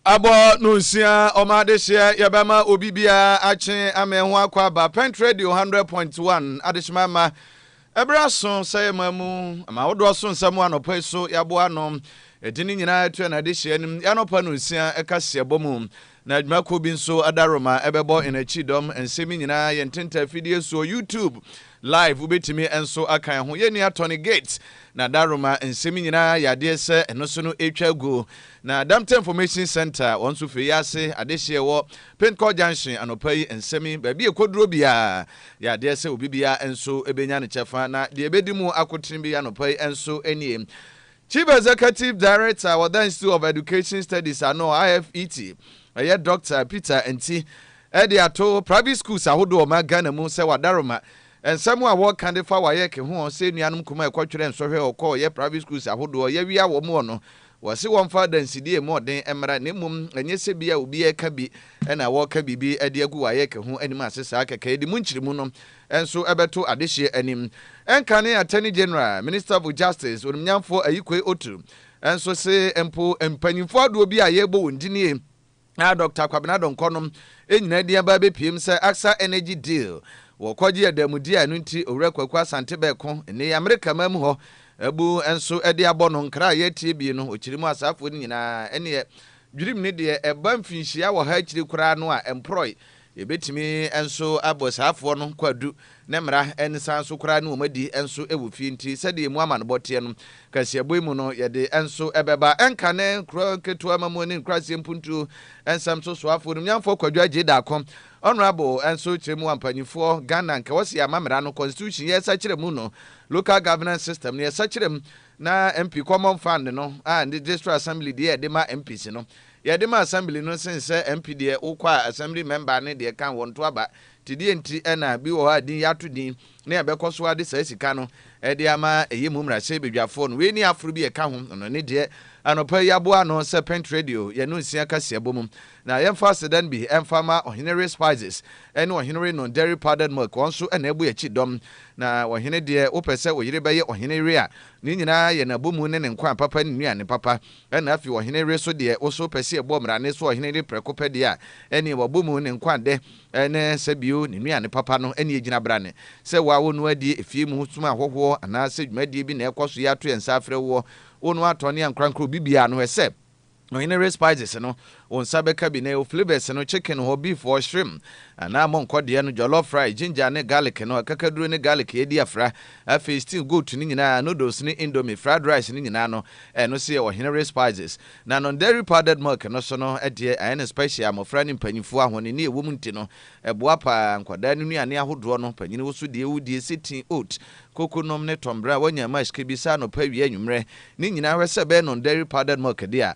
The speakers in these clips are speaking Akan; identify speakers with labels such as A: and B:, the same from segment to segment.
A: Abɔ no nsia, ɔma adehyeɛ yɛbɛma obi biara akye ama ɛho akɔ aba. Pent Radio 100.1 adehyema mma ɛberɛ aso sɛ yɛma mu ama ahodoɔ so nsɛm anɔpa yi so yɛaboa ano. Ɛdi ne nyinaa ɛto ɛna adehyeɛ anim yɛanɔpa no nsia ɛka si ɛbɔ mu na adwuma kuo bi nso adaroma ɛbɛbɔ ɛna akyi dɔm nsɛm nyinaa yɛn tenta afidie soɔ YouTube Live, Wobɛtumi nso aka ɛho. Yɛn nua Tony Gates na Daroma nsɛm nyinaa yɛ adeɛ sɛ ɛno so no ɛretwa agu. Na Adamtɛ Information Centre wɔn nso firi yi ase adehyeɛ ɛwɔ Pentcourt Junction anɔpa yi nsɛm yi baabi ɛkɔduro biara yɛ adeɛ sɛ obi biara nso bɛnya ne kyɛfa. Na deɛ ɛbɛdi mu akotene bi anɔpa yi nso nie. Chief Executive Director wɔ da Institute of Education Studies ano, IFET, ɛyɛ Dɔkta Peter Anti de ato private schools ahodoɔ ɔman Ghana mu sɛ wadaroma nsɛm a wɔka de fa WAEC ho sɛ anuanom nkumaa ɛkɔtwerɛ nsɔhwɛ ɔkɔɔ yɛ private schools ahodoɔ yɛwia wɔn wɔ no wɔse wɔmfa adansidie mu ɔden mmra na mmom ɛnyɛ sɛ bi a obi ɛka bi na wɔka biribi de agu WAEC ho anim ase saa kɛkɛ ɛdi mu nkyeremu no nso bɛto adehyeɛ anim. Nkane Attorney General, Minister of Justice, Onimnyamfoɔ Ayikoe Otu nso se mpo mpanyimfoɔ adoɔ bi a yɛrebɔ wɔn din yi a Doctor Kwabena Donkor nom nyinaa din aba abɛpiem sɛ Acsa Energy Deal wɔkɔgye adamudeɛ a ɛno nti Owura Kwaku Asante bɛko nnee Amerika man mu hɔ abu nso de abɔ no nkra a yɛretie bie no ɔkyiri mu asaafoɔ no nyinaa ɛneɛ dwirim ne deɛ ɛba mfinhyia wɔ ha akyiri koraa no a ɛmporɔe Yɛbɛtumi nso abɔ saafoɔ no kwadu ne mmara ne san nso koraa ne wɔn adi nso wɔ fie nti sɛdeɛ emu amanebɔ teɛ no kaseɛbɔ yi mu no yɛde nso bɛba. Ɛnka ne nkuro nketewa ma mu ne nkuraaseɛ mpuntuo nsɛm so soafoɔ onimnyanfoɔ Kwadwo Agyei Darko Honourable nso kyerɛ mu a mpaninfoɔ Ghana nka wɔse yɛama mmara no, constitution, yɛsakyera mu no, local governance system, no yɛsakyera mu na MP common fund no a ne district assembly deɛ yɛde ma MPs no Yɛde ma assembly no sen sɛ MP deɛ wokɔ a assembly member ne deɛ kan wɔn to aba nti deɛ nti na bi wɔ hɔ a din yɛato din ne ɛbɛkɔ so ara de saa sika no de ama ɛyɛ mu mmarahyɛ badwafoɔ no wei ne aforo bi ɛka ho no ne deɛ anɔpa yi aboa ano sɛ pent radio yɛn no nsia kaseɛ bɔ mu na yɛmfa asedan bi ɛmfa mma ɔhene re spices ɛne ɔhene re no dairy powdered milk wɔn nso ɛna ɛbu akyi dɔm na ɔhene deɛ wopɛ sɛ oyere bɛyɛ ɔhene re a ne nyinaa yɛ n'abomu ne ne nkwa papa ne nnuane papa Ɛna afei ɔhene we so deɛ woso pɛ sɛ yɛbɔ mmara ne so ɔhene de prɛko pɛ deɛ a ɛneɛ wabɔ mu ne nkwa dɛ ne sɛ bio ne nnuane papa no ɛneɛ ɛgyina brane sɛ wo a wo noa die efie mu som ahɔhoɔ anaa sɛ dwumadie bi na ɛkɔ so yɛ ato yɛn nsa afrɛ woɔ wo noa atɔ ne ankorankoro obi biara no hwɛ sɛ ɔhene we spices no Wo nsa bɛka bi na ɛwɔ flavours no, chicken hɔ, beef hɔ, shrimp anaa monkɔ deɛ no, jollof fry, ginger ne garlic no, akakaduro ne garlic yɛadi afra, afei stew goat no nyinaa, noodles ne indomie, fried rice no nyinaa no, ɛno nso yɛ ɔhenere spices. Na non-dairy powdered milk no nso no deɛ, ayɛ no special a mmɔfra ne mpanyinfoɔ ahɔnenni a ɛwɔ mu nti no, ɛboa pa ara. Nkwadaa no nnuane ahodoɔ no, panyini wo so deɛ wodie, sitting oat, koko nom ne tɔmbrɛ a wɔanya mash ka bi saa anɔpa, awia, anwummerɛ, ne nyinaa hwɛ sɛ ɛbɛyɛ non-dairy powdered milk deɛ a,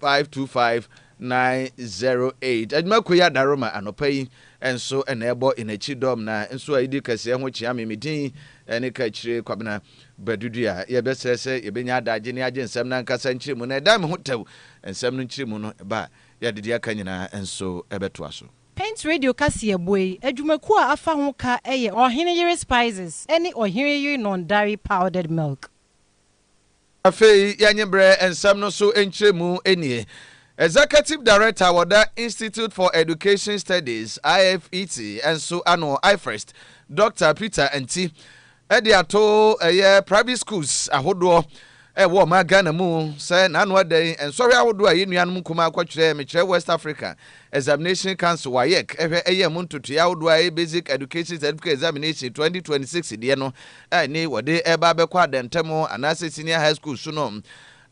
A: 525908 Adwuma Koya Daroma anɔpa yi nso na ɛbɔ yɛn akyi dɔm na nso a yɛdi kɛseɛ ho kyea me me din ne Kakyire Kwabena Badudua yɛbɛsrɛ sɛ yɛbɛnya adagye ne agye nsɛm no ankasa nkyerɛmu na ɛdan me ho tɛw nsɛm no nkyerɛmu no ba a yɛde deɛ aka nyinaa nso bɛtoa so. Paint Radio
B: kaseɛbɔ yi adwumakuo a afa ho ka yɛ Ɔhene Yere Spices ne Ɔhene Yere Nɔndare Powdered Milk.
A: Afei yɛnye mbrɛ nsɛm no so nkyerɛmu nie. Executive Director a wɔda Institute for Education Studies, IFET, nso ano, IFEST, Dɔkta Peter Anti de ato ɛyɛ private schools ahodoɔ ɛwɔ ɔman Ghana mu sɛ n'ano adɛn nsɔhwɛ ahodoɔ a yɛn nuanom nkumaa kɔtwerɛɛ mekyerɛ West Africa Examination Council, WAEC, hwɛ yɛ mu ntotoeɛ ahodoɔ a ɛyɛ Basic Education Certificate Examination 2026 deɛ no a ɛne wɔde reba abɛkɔ adantam anaasɛ senior high school so no.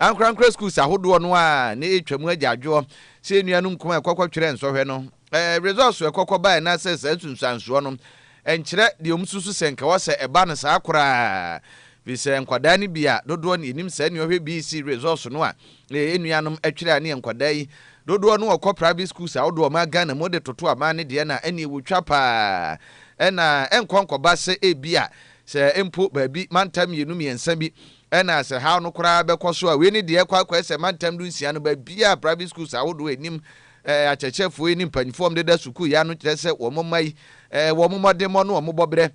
A: Ankorankora schools ahodoɔ no a na ɛretwa mu agya adwoɔ sɛ yɛn nuanom nkumaa a ɛkɔkɔtwerɛɛ nsɔhwɛ no results a ɛkɔkɔbaeɛ no asɛ saa nsunsuansoɔ no Ɛnkyerɛ deɛ wɔsusu sɛ nka wɔsɛ ɛba no saa koraa. Firi sɛ nkwadaa no bi a dodoɔ no yɛnim saa nnuɔhwɛ BC results no a yɛ nuanom ɛtwerɛ a ne yɛ nkwadaa yi dodoɔ no wɔkɔ private schools ahodoɔ a wɔmaa Ghana mu wode toto aban no deɛ no a ɛneɛ wɔtwa paa ɛna ɛnkɔ nkɔba sɛ ebia sɛ mpo baabi mantam mmienu mmiɛnsa bi ɛna sɛ haw no koraa bɛkɔ so a wei ne deɛ ɛkɔ akɔɛ sɛ mantam du nsia no baabiaa private schools ahodoɔ anim Eh, akyerɛkyerɛfoɔ yi ne mpanyinfoɔ a wɔdeda sukuu yi ano kyerɛ sɛ wɔn mma yi, eh, wɔn mmɔdemmɔ ne wɔn bɔberɛ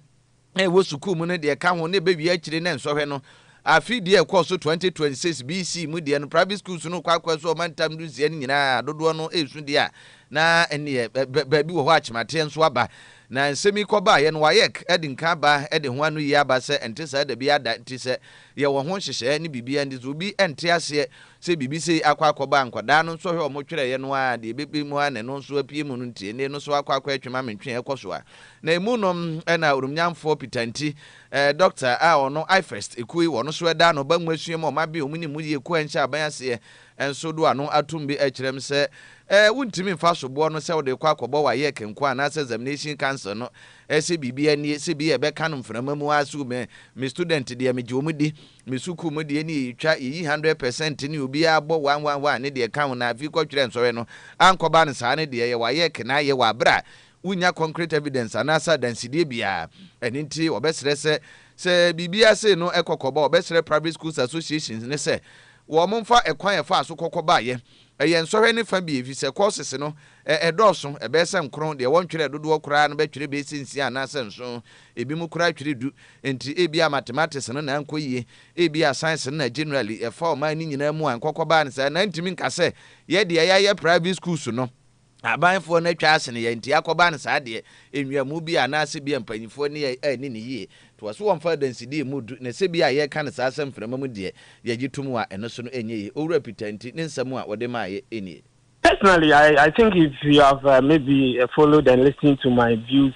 A: a ɛwɔ sukuu mu no deɛ ɛka ho na ɛbɛwie akyire na nsɔhwɛ no afe deɛ ɛkɔɔ so 2026 BC mu deɛ no private schools no kɔ akɔɛ so ɔmantam no nsia no nyinaa dodoɔ no ɛresu deɛ a na ɛneɛ baabi wɔ hɔ akyemateɛ nso aba na nsɛm yi kɔbaeɛ no wayɛk de nka aba de ho ano yi aba sɛ ɛnte saa da bi ada nti sɛ yɛwɔ ho nhyehyɛɛ ne biribiara nti sɛ obi ɛnte aseɛ Sɛ biribi sei akɔ akɔba nkwadaa no nsɔhwɛ a wɔtwerɛeɛ no ara a, deɛ ɛbɛba mu ara na ɛno nso apue mu no nti, ɛnneɛ ɛno nso akɔ akɔ ɛtwe ma me ntwe ɛkɔ so a. Na ɛmu no na Oromnyamfoɔ Peter Nti, eh, Dɔkta a ɔno IFEST ekuo yi wɔn nso ɛda ano ba nwasua mu a wɔabɛn wɔn nim yie kɔ ɛnhyɛ aban aseɛ nso do ano atom bi ɛkyerɛ me sɛ, eh, wontumi mfa soboɔ no sɛ wode kɔ akɔbɔ WAEC nko ara anaasɛ Examination Council no eh, sɛ biribi ɛnnie, sɛ bi a ɛbɛka no mframa mu ara sɛ oh, me, me student deɛ megye wɔn di. Me sukuu mu deɛ nie yɛtwa yɛyi hundred percent ne obiara bɔ one one one ne deɛ ɛka ho na afei kɔ twerɛ nsɔhwɛ no ankɔba no saa ne deɛ yɛ wayɛ kenaa yɛ wɔ aberɛ a wonnya concrete evidence anaasɛ adansedie biara ɛno nti wɔbɛsrɛ sɛ sɛ biribiara sei no ɛkɔ kɔba wɔbɛsrɛ private schools associations no sɛ wɔmfa ɛkwan a ɛfaa so kɔ kɔbaeɛ Ɛyɛ nsɔhwɛ no fã bi efisɛ kɔɔsese no, ɛ, ɛdɔɔso, ɛbɛyɛ sɛ nkron, deɛ wɔntwerɛɛ dodoɔ koraa no bɛtwerɛ bɛyɛ sɛ nsia anaasɛ nson, ebinom koraa twere du. Enti ebia mathematics no na ankɔ yie, ebia science no na generally ɛfa ɔman no nyinaa mu a nkɔkɔbaa no saa, na ntumi nka sɛ yɛn deɛ yɛayɛ private schools no Ahabanfoɔ no atwa asene yɛn nti akɔba no saa deɛ nwiamu bi a anaase bia mpaninfoɔ ne yɛn anni no yie nti wɔse wɔmfa adansedie mmu du na sɛ bia yɛreka no saa sɛ mframa mu deɛ yɛgye tom a ɛno so no ɛnyɛ yie. Owura Peter nti ne nsɛm a ɔde maeɛ nie. Personally I
C: I think if you have maybe followed and listened to my views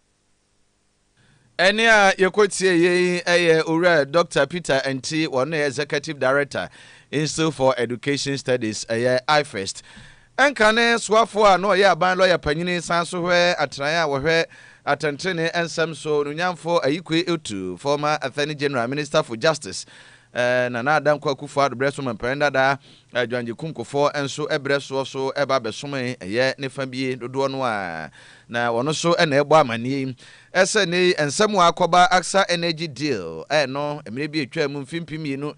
A: Ɛnne a yɛkɔtieeɛ yi yɛ Owura Dɔkta Peter Anti, wɔn na yɛ Executive Director, Institute for Education Studies, ɛyɛ IFEST. Ɛnka ne soafoɔ a na ɔyɛ aban lɔya panyini san so hwɛ atenaeɛ a wɔhwɛ atɛntenenee nsɛm so, Onunyamfo Ayikwe Otu, former Attorney General, Minister for Justice, Nana Adankwa Akufo-Addo berɛ so mampanin dadaa, Adwangye-Kumkofɔ nso brɛ soɔ so ba bɛsomee, ɛyɛ ne fa bi dodoɔ no ara, na wɔn nso na ɛrebɔ amanneɛ yi sɛ nnɛ yi nsɛm a akɔba Acsa Energy Deal no mmerɛ bi a ɛtwaa mu mfe mpem mmienu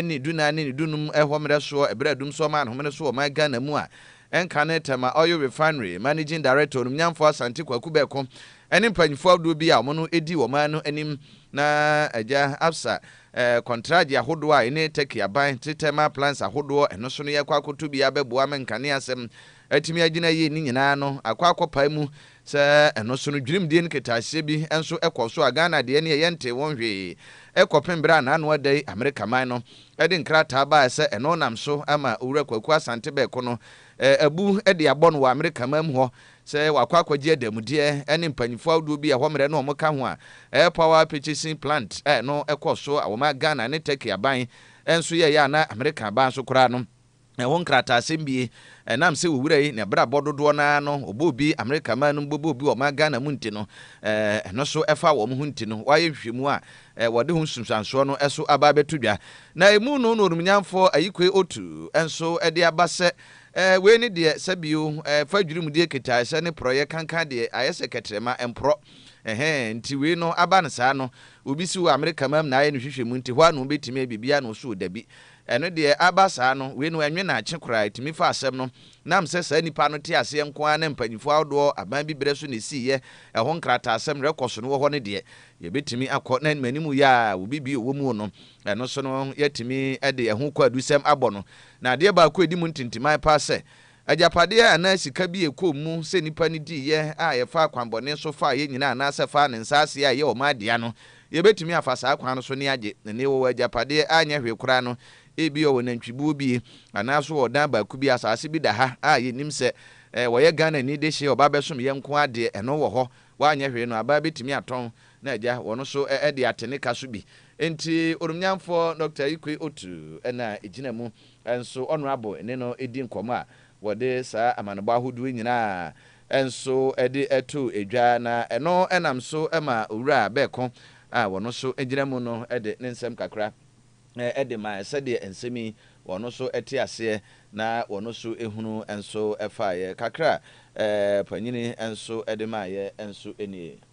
A: ne du nan ne ne du num hɔ mmerɛ soɔ berɛ a Dumsor maa no homene so wɔ ɔman Ghana mu a ɛnka ne Tema Oil Refinery Managing Director Onimnyamfoɔ Asante Kwaku Bɛko ne mpanyinfoɔ ahodoɔ bi a wɔn no di wɔ ɔman no anim na Agya Absa Eh, kɔntragye ahodoɔ a ene Turkey aban te thermal plants ahodoɔ eno so no yɛ akɔ akɔto bi abɛboa me nkane asem atumi agyina ayie ne nyinaa no akɔ akɔpae mu sɛ eno so no dwirimdie ne ketaaseɛ bi nso kɔ so a Ghana deɛ neɛ yɛntee won hwee kɔpem berɛ a naano ada yi Amerika man no de nkrataa baaɛ sɛ eno nam so ama Owura Kwaku Asante Bɛɛko no eh, abu de abɔ no wɔ Amerika man mu hɔ sɛ wɔakɔ akɔgye adanmudeɛ ne mpanyimfoɔ ahodoɔ bi a ɛhɔ mmerɛ no wɔn ka ho a, Air Power Purchasing Plant a ɛno kɔɔ so a wɔmaa Ghana ne Turkey aban nso yɛeɛ a na Amerika aban nso koraa no ɛho nkrataasɛm bie ɛnam sɛ owura yi n'abrabɔ dodoɔ no ara no ɔbɔ obi Amerika man no mu bɛbɔ obi ɔman Ghana mu nti no ɛno nso ɛfa wɔn ho nti no wɔayɛ nhwehwɛmu a wɔde ho nsunsuansoɔ no ɛso aba abɛto dwa na ɛmu no na onumnyamfoɔ Ayikoe Otu nso ɛde aba sɛ Eh, wei ne deɛ sɛ bio eh, fa dwiri mu deɛ kitaɛ sɛ ne porɔeɛ kankan deɛ ayɛ sɛ kɛtrɛma ɛmporɔ ɛhɛɛ nti wei no aba no saa no obi si wɔ Amerika mam na ayɛ no hwehwɛ mu nti hɔ ano bɛtumi ayɛ biribi ano so o dabi ɛno deɛ aba saa no wei no ɛnwe naakye koraa ɛtumi fa asɛm no nam sɛ saa nipa no te aseɛ nko ara na mpanyinfoɔ ahodoɔ aban bi berɛ so na ɛsiiɛ ɛho nkrataasɛm rekɔ so no wɔ hɔ no deɛ yɛbɛtumi akɔ na animanimu yɛ a obi bio wɔ mu o no ɛno so no yɛatumi de ɛho kwaadusɛm abɔ no Na adeɛ baako a ɛdi mu ntintiman paa sɛ, agyapadeɛ anaa sika bi a ɛkɔɔ mu sɛ nnipa no diiɛ a ɛfaa kwanbɔne so faa yɛn nyinaa anaasɛ faa ne nsaaseɛ a ɛyɛ ɔman dea no, yɛbɛtumi afa saa kwan no so ne agye ne wɔwɔ agyapadeɛ a ɛnyɛ hwee koraa no, ebia ɔwɔ nantwibuo bi anaa nso ɔwɔ dan baako bi, asaase bi da ha a yɛnnim sɛ wɔyɛ Ghanani dehyeɛ, ɔba bɛsom yɛn nko ara deɛ, ɛno wɔ hɔ, wanyɛ hwee no, abaa bɛtumi atɔn Na agya wɔn nso de ate ne ka so bi. Enti Oromnyanfoɔ Dɔkta Ikwe Otu na ɛgyina mu. Nso Ɔnoabo ne no di nkɔmmɔ a wɔde saa amanebɔ ahodoɔ yi nyinaa nso de to dwa na ɛno nam so ma Owura Bɛɛko a wɔn nso gyina mu no de ne nsɛm kakra de ma sɛdeɛ nsɛm yi wɔn nso te aseɛ na wɔn nso hunu nso faeɛ. Kakra a Panyini nso de maeɛ nso nie.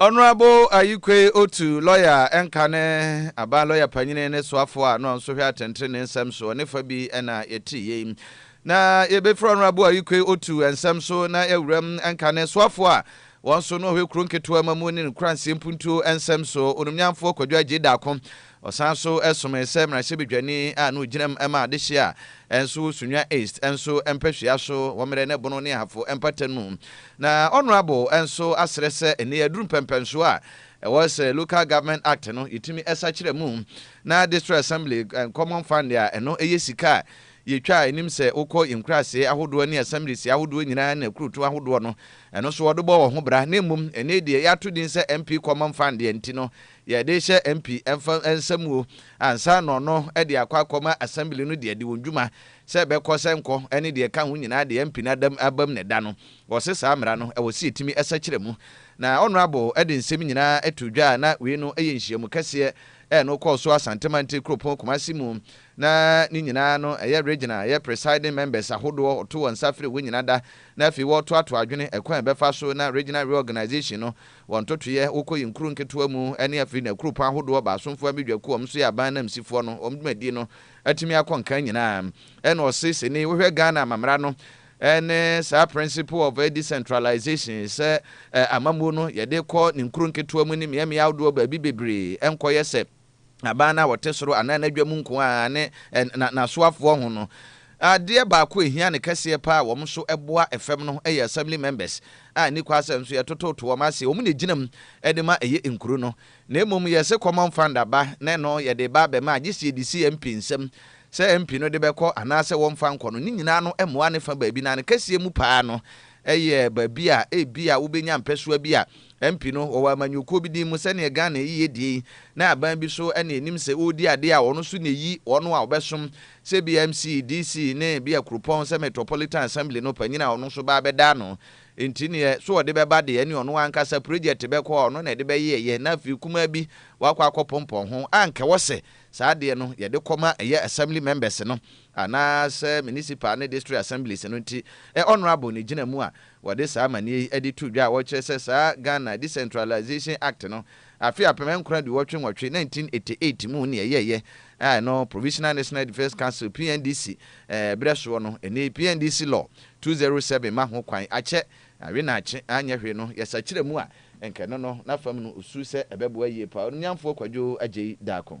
A: Honourable Ayikwei Otu, lɔya a ɛnka ne aban lɔya panyini ne soafoɔ a na ɔnso hwɛ atɛntrenee nsɛm soɔ ne fa bi na yɛte yei. Na yɛbɛfiri Honourable Ayikwei Otu nsɛm so na yɛawura mu nka ne soafoɔ a wɔn nso na ɔhwɛ kuro nketewa ma mu ne ne nkuranseɛ mpuntuo nsɛm soɔ, Onumnyanfoɔ Kwadwo Agyei Daako. Ɔsan nso somee sɛ mmarahyɛbadwani a na ogyina mu ma adehye a ɛnso wɔ Sunyani East nso mpɛsua so wɔ Mmerɛ ne Bono ne Ahafo mpata no mu. Na Honourable nso asrɛ sɛ nnɛ yɛaduru mpɛmpɛnsoɔ a ɛwɔ sɛ Local Government Act no yɛtumi sakyera mu na District Assembly Common Fund a ɛno yɛ sika a yɛtwa a ɛnim sɛ wokɔ yɛn nkuraaseɛ ahodoɔ ne Assemblies ahodoɔ nyinaa ne akurutu ahodoɔ no ɛno nso wɔde bɔ wɔn ho bra na mmom nnɛ yi deɛ yɛato din sɛ MP Common Fund deɛ nti no Yɛde rehyɛ MP mfa nsa mu o, ansa na ɔno de akɔ akɔma Assembly no deɛ de wɔn dwuma sɛ ɛbɛkɔ sɛ nkɔ ne deɛ ɛka ho nyinaa de MP no adam abam na ɛda no. Wɔse saa mmara no ɛwɔ sɛ yɛtumi sakyera mu. Na Honourable de nsɛm nyinaa too dwa a na wei no yɛ nhyiamu kɛseɛ ɛ no kɔɔ so Asante Mantee kuropɔn Kumasi mu na ne nyinaa no ɛyɛ Regional ɛyɛ Presiding Members ahodoɔ ɔto wɔn nsa frɛ wɔn nyina da na afei wɔretoatoa adwene ɛkwan a ɛbɛfa so na Regional Reorganisation no Wɔ ntotoeɛ, wokɔ yɛn kuro nketewa mu ne afei na akuropɔn ahodoɔ baasomfoɔ Amedwa kuo a wɔn nso yɛ aban anamsifoɔ no wɔn dwumadie no atumi akɔ nkan nyinaa. Ɛna ɔse sene wohwɛ Ghana amammara no ne saa principle of decentralization sɛ amammuo no yɛde kɔ ne nkuro nketewa mu ne mmeammea ahodoɔ baabi bebree nkɔyɛ sɛ aban no a ɔte soro anaa n'adwa mu nko ara ne n'asoafoɔ ho no, adeɛ baako a ɛhia no kɛseɛ paa a wɔn nso boa fam no yɛ Assembly Members a ɛnni kwa sɛ nso yɛtototo wɔn ase. Wɔn na ɛgyina mu de ma ɛyɛ nkuro no, na mmom yɛse Common Fund aba na ɛno yɛde reba abɛma a, gye sɛ yɛde si MP nsam sɛ MP no de bɛkɔ anaa sɛ wɔmfa nkɔ no. Ne nyinaa no mmoa no fa baabi, na ne kɛseɛ mu paa no Ɛyɛ baabi a ebia wobenya mpɛsoa bi a MP no wɔwɔ amanyɔkuo bi din mu sɛdeɛ Ghana yi yɛ die yi na aban bi so na ɛnim sɛ ɔredi adeɛ a ɔno nso na ɛyi wɔn a wɔbɛsom sɛ ebia MC, DC ne ebia kuropɔn sɛ Metropolitan Assembly no panyin a ɔno nso ba abɛda ano nti neɛ so ɔde bɛba deɛ ɛne ɔno ankasa project bɛkɔ a ɔno na ɛde bɛyɛɛyɛ na afei kumaa bi wakɔ akɔpompɔn ho a anka ɛwɔ sɛ saa adeɛ no yɛde kɔma ɛyɛ Assembly members no. anaasɛ Municipal ne District Assemblies no nti, ɛ Honourable na ɛgyina mu a, wɔde saa amanneɛ yi de to dwa a wɔkyerɛ sɛ saa Ghana Decentralisation Act no, afe apem nkron aduwɔtwe nwɔtwe, 1988, mu nea ɛyɛeɛ a ɛno Provisional National Defence Council, PNDC, berɛ soɔ no, ɛnne PNDC Law, 207 ma ho kwan, akyɛ, awe na akye, anyɛ hwee no, yɛsakyera mu a, nka ɛno no, n'afam no, ɔsuu sɛ ɛbɛboa yie paa, Onimnyamfoɔ Kwadwo Agyei Darko.